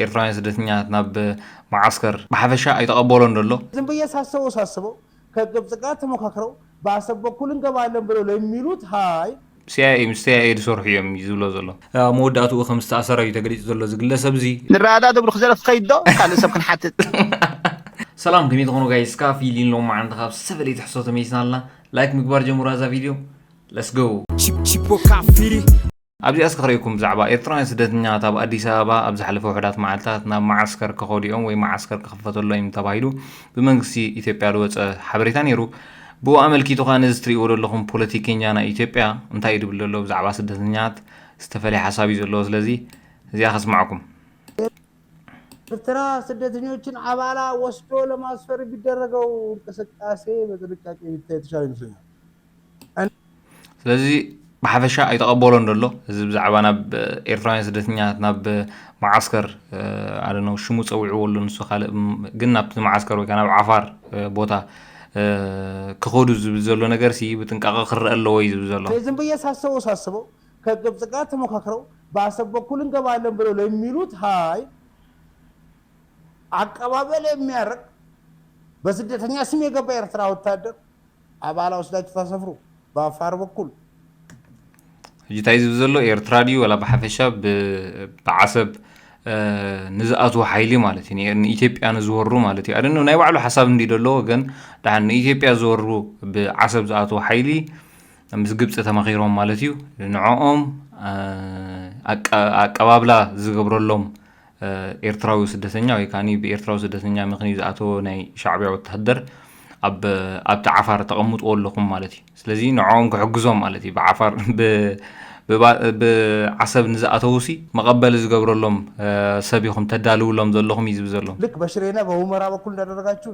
ኤርትራውያን ስደተኛታት ናብ መዓስከር ብሓፈሻ ኣይተቐበሎን ዘሎ። ዝም ብዬ ሳስበው ሳስበው ከግብጽ ጋር ተመካክረው በአሰብ በኩል እንገባለን ብለው ለሚሉት ሀይል። ሲኣይኤ ምስ ሲኣይኤ ዝሰርሑ እዮም እዩ ዝብሎ ዘሎ። ኣብ መወዳእትኡ ከም ዝተኣሰረ እዩ ተገሊጹ ዘሎ እዚ ግለሰብ እዚ። ንረዳዳእ ትብሉ ክዘረፍ ትኸይድ ዶ ካልእ ሰብ ክንሓትት። ሰላም ከመይ ትኾኑ ጋይስ ክኣ ፊሊን ሎማዓንቲ ካብ ዝተፈለየ ትሕዝቶ ተመሊስና ኣለና ላይክ ምግባር ጀምሩ ኣዛ ቪድዮ let's go። ቺፖካ ፊሊ። ኣብዚኣ እስከ ክረኤኩም ብዛዕባ ኤርትራውያን ስደተኛታት ኣብ ኣዲስ ኣበባ ኣብ ዝሓለፈ ውሑዳት መዓልታት ናብ መዓስከር ከኸዱ'ዮም ወይ መዓስከር ክኽፈተሎም'ዩ ተባሂሉ ብመንግስቲ ኢትዮጵያ ዝወጸ ሓበሬታ ነይሩ። ብኡ ኣመልኪቱ ከኣ ነዚ ትርእይዎ ዘለኹም ፖለቲከኛ ናይ ኢትዮጵያ እንታይ እዩ ዝብል ዘሎ ብዛዕባ ስደተኛታት ዝተፈለየ ሓሳብ እዩ ዘለዎ ስለዚ እዚኣ ከስማዕኩም። ኤርትራ ስደተኞችን ኣባላ ወስዶ ለማስፈር ቢደረገው እንቅስቃሴ በጥንቃቄ ቢታይ የተሻለ ይመስለኛል። ስለዚ ብሓፈሻ ኣይተቐበሎን ዘሎ እዚ ብዛዕባ ናብ ኤርትራውያን ስደተኛታት ናብ መዓስከር ኣነ ሽሙ ፀዊዕዎ ኣሎ ንሱ ካልእ ግን ናብቲ መዓስከር ወይ ናብ ዓፋር ቦታ ክኸዱ ዝብል ዘሎ ነገር ሲ ብጥንቃቐ ክረአ ኣለዎ እዩ ዝብል ዘሎ ስለዚህም ብዬ ሳስበው ሳስበው ከግብፅ ጋር ተመካክረው በአሰብ በኩል እንገባለን ብለው ለሚሉት ሀይል አቀባበል የሚያደርግ በስደተኛ ስም የገባ ኤርትራ ወታደር ኣባላ ወስዳችሁ ታሰፍሩ በኣፋር በኩል። ሕጂ ታይ ዝብል ዘሎ ኤርትራ ድዩ ዋላ ብሓፈሻ ብዓሰብ ንዝኣትዉ ሓይሊ ማለት እዩ ንኢትዮጵያ ንዝወሩ ማለት እዩ ኣደነ ናይ ባዕሉ ሓሳብ እንዲ ደለዎ ግን ድሓን ንኢትዮጵያ ዝወሩ ብዓሰብ ዝኣትዉ ሓይሊ ምስ ግብፂ ተማኺሮም ማለት እዩ ንዕኦም ኣቀባብላ ዝገብረሎም ኤርትራዊ ስደተኛ ወይ ከኣ ብኤርትራዊ ስደተኛ ምኽንዩ ዝኣተወ ናይ ሻዕብያ ወተሃደር ኣብ ኣብቲ ዓፋር ተቐምጥዎ ኣለኹም ማለት እዩ ስለዚ ንዕኦም ክሕግዞም ማለት እዩ ብዓፋር ብዓሰብ ንዝኣተውሲ መቐበሊ ዝገብረሎም ሰብ ኢኹም ተዳልውሎም ዘለኹም እዩ ዝብል ዘሎ ልክ በሽሬና በሁመራ በኩል እንዳደረጋችሁ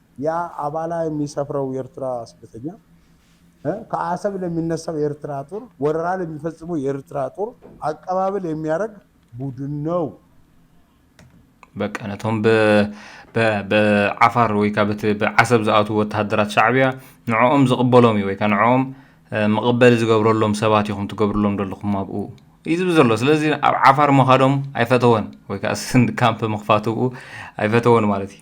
ያ ኣባላ የሚሰፍረው የርትራ ስደተኛ እ ከአሰብ ለሚነሳው የርትራ ጡር ወረራ ለሚፈጽመው የርትራ ጡር አቀባበል የሚያረግ ቡድን ነው። በቃ ነቶም ብ ብ ብዓፋር ወይ ከኣ በቲ ብዓሰብ ዝኣትዉ ወተሃደራት ሻዕብያ ንዕኦም ዝቕበሎም እዩ ወይ ከኣ ንዕኦም መቐበሊ ዝገብረሎም ሰባት ኢኹም ትገብርሎም ዘለኹም ኣብኡ እዩ ዝብል ዘሎ ስለዚ ኣብ ዓፋር ምኻዶም ኣይፈተወን ወይ ከኣ ስንድ ካምፕ ምኽፋት ኣብኡ ኣይፈተወን ማለት እዩ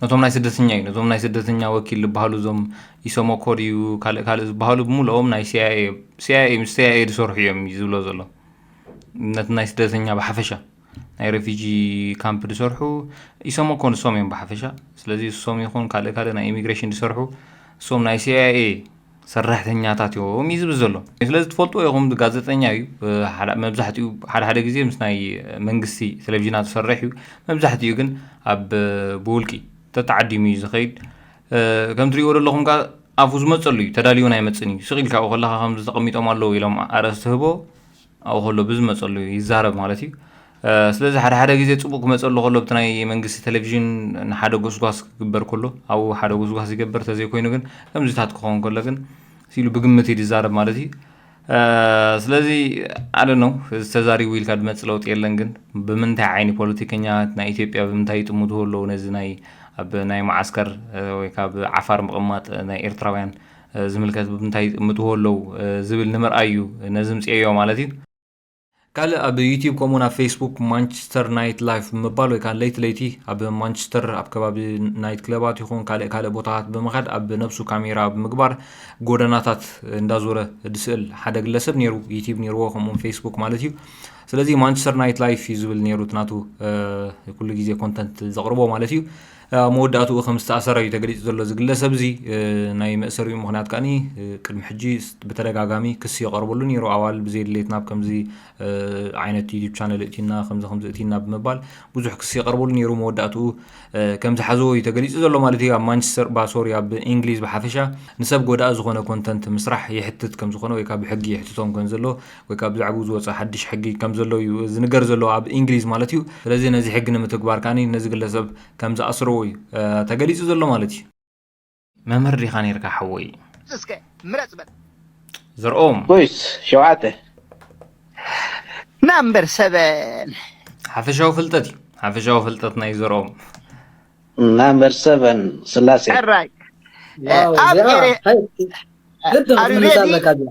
ነቶም ናይ ስደተኛ እዩ ነዞም ናይ ስደተኛ ወኪል ዝበሃሉ እዞም ኢሰመኮ ድዩ ካልእ ካልእ ዝበሃሉ ብምልኦም ናይ ሲኣይኤ እዮም ሲኣይኤ ምስ ሲኣይኤ ዝሰርሑ እዮም እዩ ዝብሎ ዘሎ ነቲ ናይ ስደተኛ ብሓፈሻ ናይ ረፊጂ ካምፕ ዝሰርሑ ኢሰመኮ ንሶም እዮም ብሓፈሻ ስለዚ እሶም ይኹን ካልእ ካልእ ናይ ኢሚግሬሽን ዝሰርሑ እሶም ናይ ሲኣይኤ ሰራሕተኛታት እዮም እዩ ዝብል ዘሎ ስለዚ ትፈልጥዎ ኢኹም ጋዜጠኛ እዩ መብዛሕትኡ ሓደ ሓደ ግዜ ምስ ናይ መንግስቲ ቴሌቭዥናት ዝሰርሕ እዩ መብዛሕትኡ ግን ኣብ ብውልቂ ተተዓዲሙ እዩ ዝኸይድ ከም ትሪእዎ ዘለኹም ከ ኣፉ ዝመፀሉ እዩ ተዳልዩን ኣይመፅን እዩ ስቕ ኢልካ ኣብኡ ከለካ ከምዚ ተቐሚጦም ኣለዉ ኢሎም ኣርእስቲ ህቦ ኣብኡ ከሎ ብዝመጸሉ ይዛረብ ማለት እዩ። ስለዚ ሓደ ሓደ ግዜ ጽቡቅ ክመጸሉ ከሎ ብቲ ናይ መንግስቲ ቴሌቪዥን ንሓደ ጎስጓስ ክግበር ከሎ ኣብኡ ሓደ ጎስጓስ ይገበር ተዘይኮይኑ ግን ከምዚታት ክኸውን ከሎ ግን ሲሉ ብግምት እዩ ዝዛረብ ማለት እዩ ስለዚ ኣደ ነው እዚ ተዛሪቡ ኢልካ ድመፅ ለውጢ የለን ግን ብምንታይ ዓይኒ ፖለቲከኛ ናይ ኢትዮጵያ ብምንታይ ይጥምትዎ ኣለዉ ነዚ ናይ ኣብ ናይ መዓስከር ወይ ካብ ዓፋር ምቕማጥ ናይ ኤርትራውያን ዝምልከት ብ እንታይ ይጥምትዎ ኣለው ዝብል ንምርኣይ እዩ ነዝምጽኤዮ ማለት እዩ። ካልእ ኣብ ዩቲብ ከምኡውን ኣብ ፌስቡክ ማንቸስተር ናይት ላይፍ ብምባል ወይ ከዓ ለይቲ ለይቲ ኣብ ማንቸስተር ኣብ ከባቢ ናይት ክለባት ይኹን ካልእ ካልእ ቦታታት ብምኻድ ኣብ ነብሱ ካሜራ ብምግባር ጎደናታት እንዳዞረ ዝስእል ሓደ ግለሰብ ነይሩ ዩቲብ ነይርዎ ከምኡውን ፌስቡክ ማለት እዩ ስለዚ ማንቸስተር ናይት ላይፍ እዩ ዝብል ነይሩ ናቱ ኩሉ ግዜ ኮንተንት ዘቕርቦ ማለት እዩ ኣብ መወዳእትኡ ከም ዝተኣሰረ እዩ ተገሊጹ ዘሎ። እዚ ግለሰብ'ዚ ናይ መእሰሪኡ ምኽንያት ከኣ ቅድሚ ሕጂ ብተደጋጋሚ ክሲ ይቐርበሉ ነይሩ። ኣዋልድ ብዘይድሌት ናብ ከምዚ ዓይነት ዩቱብ ቻነል እእቲና ከምዚ ከምዚ እእቲና ብምባል ብዙሕ ክሲ ይቐርበሉ ነይሩ። መወዳእትኡ ከም ዝሓዘዎ እዩ ተገሊጹ ዘሎ ማለት እዩ። ኣብ ማንቸስተር ባ ሶሪ ኣብ እንግሊዝ ብሓፈሻ ንሰብ ጎዳኢ ዝኾነ ኮንተንት ምስራሕ የሕትት ከም ዝኾነ ወይ ከዓ ብሕጊ የሕትቶም ከም ዘሎ ወይ ከኣ ብዛዕብኡ ዝወጸ ሓድሽ ሕጊ ከም ዘሎ እዩ ዝንገር ዘሎ፣ ኣብ እንግሊዝ ማለት እዩ። ስለዚ ነዚ ሕጊ ንምትግባር ከኣ ነዚ ግለሰብ ከም ዝኣስርዎ እዩ ተገሊጹ ዘሎ ማለት እዩ። መምህር ዲኻ ኔርካ ሓወይ? እስከ ምረጽ በል። ዘርኦም። ጎይስ ሸውዓተ። ናምበር ሰቨን። ሓፈሻዊ ፍልጠት እዩ። ሓፈሻዊ ፍልጠት ናይ ዘርኦም። ናምበር ሰቨን ስላሴ። ሕራይ። ዋው ኣብ ዚኣ ኤሬ ሀይ ኣር ዩ ግጥም ሬዲ? ትምልሳ ኣለካ ዚኣ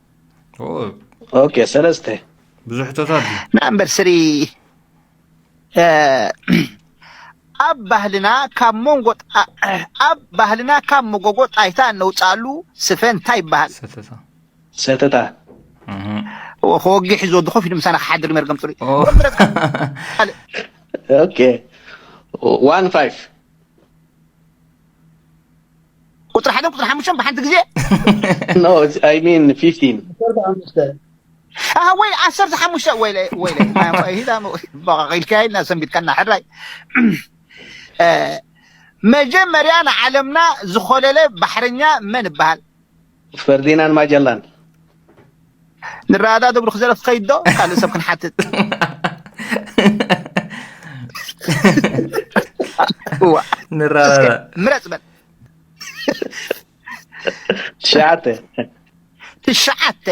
ኦኬ ሰለስተ ብዙሕ ሕቶታት እዩ ናምበር ስሪ እ፣ ኣብ ባህልና ካብ መንጎ ጣ- ኣብ ባህልና ካብ መጎጎ ጣይታ እነውፅኣሉ ስፈ እንታይ ይበሃል ሰተታ ሰተታ እህ። እዎ ከወግሕ እዩ ዝወዲ ኮፍ ኢሉ ምሳና ክሓድር እዩ መርገም ፅሩይ ኦ። ካልእ ኦኬ ዋን ፋይቭ ቁፅሪ ሓደን ቁፅሪ ሓሙሽተን ብሓንቲ ግዜ No, it's, I mean 15. ዓሰርተ ሓሙሽተ ኣሃ ወይ ዓሰርተ ሓሙሽተ ወይለ ወይለ ሂዳ ኢልካ ኢልና ሰንቢትካና ሕራይ እ፣ መጀመርያ ንዓለምና ዝኾለለ ባሕረኛ መን ይበሃል ፈርዲናን ማጀላን ንረኣዳ ደብሩ ክዘረፍ ትኸይድ ዶ ካልእ ሰብ ክንሓትት ንረኣዳ ምረፅ በል ትሽዓተ ትሽዓተ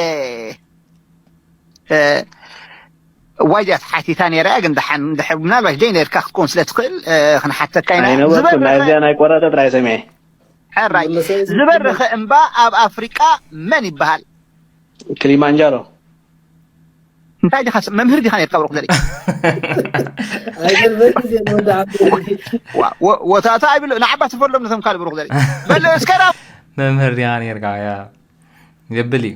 ዋይ ዲያ ተሓቲታ ነይራ እያ ግን ደሓን ድሕር ምናልባሽ ደይ ነርካ ክትከውን ስለ ትኽእል ክንሓተካ ኢና ኣይነበርኩን ናይዚኣ ናይ ቆረጠ ጥራይ ሰሚዐ ሕራይ ዝበረኸ እምባ ኣብ ኣፍሪቃ መን ይበሃል? ክሊማንጃሮ። እንታይ ዲኻ ሰብ መምህር ዲኻ ነርካ ብሩኽ ዘርኢ ኣይገርመኒ ድየ ንወዲ ዓበይቲ ዋ- ወ- ወታታ ኣይብሎ ንዓባ ትፈሎም ነቶም ካልእ ብሩኽ ዘርኢ በል እስከ ናብ መምህር ዲኻ ነርካ ያ የብል እዩ